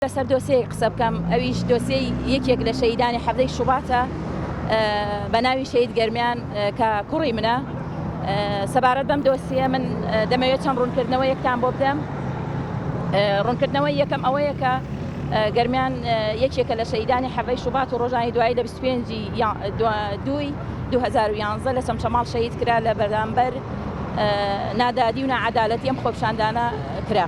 لەسەر دۆسێیەک قسە بکەم ئەویش دۆسێی یەکێک لە شەهیدانی حەڤدەی شوباتە بە ناوی شەهید گەرمیان کە کوڕی منە سەبارەت بەم دۆسیە من دەمەوێت چەند ڕوونکردنەوە یەکتان بۆ بدەم ڕوونکردنەوەی یەکەم ئەوەیە کە گەرمیان یەکێکە لە شەیدانی حەڤەی شوبات و ڕۆژانی دوایی لە 25 دوی 2011 لە چەمچەماڵ شەید کرا لە بەرامبەر نادادی و ناعەدالەتی ئەم خۆپشاندانە کرا.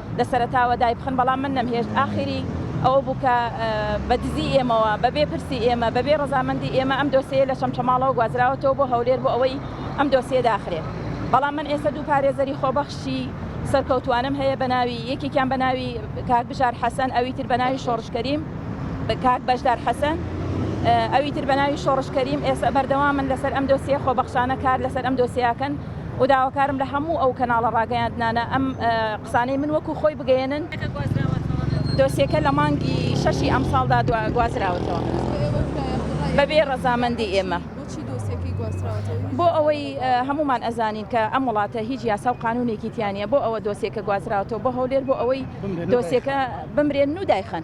لە سەرەتاوە دایبخەن بەڵام من نەمهێشت ئاخری ئەوە بوو کە بە دزی ئێمەوە بەبێ پرسی ئێمە بەبێ ڕەزامەندی ئێمە ئەم دۆسێیە لە چەمچەماڵەوە گوازراوەتەوە بۆ هەولێر بۆ ئەوەی ئەم دۆسیە داخرێ بەڵام من ئێستا دوو پارێزەری خۆبەخشی سەرکەوتوانەم هەیە بە ناوی یەکێکیان بە ناوی کاک بژار حەسەن ئەوی تر بە ناوی شۆڕش کەریم بە کاک بەشدار حەسەن ئەوی تر بە ناوی شۆڕش کەریم ئێستا بەردەوامن لەسەر ئەم دۆسیە خۆبەخشانە کار لەسەر ئەم دۆسیاکەن و داواکارم لە هەموو ئەو کەناڵە ڕاگەیاندنانە ئەم قسانەی من وەکو خۆی بگەیەنن. دۆسیەکە لە مانگی شەشی ئەمساڵدا گوازراوەتەوە بەبێ ڕەزامەندی ئێمە. بۆ ئەوەی هەمومان ئەزانین کە ئەم وڵاتە هیچ یاسا و قانونێکی تیانە بۆ ئەوە دۆسیەکە گوازراوەوە بۆ هەولێر بۆ ئەوەی دۆسیەکە بمرێن و دایخەن.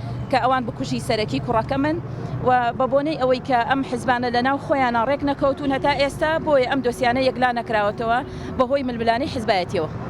کە ئەوان بکوژی سەرەکی کوڕەکەمن و بەبۆنەی ئەوەی کە ئەم حزبانە لەناو خۆیانا ڕێک نەکەوتوون هەتا ئێستا بۆیە ئەم دۆسیانە یەکلا نەکراوەتەوە بەهۆی ململانێی حزبایەتیەوە.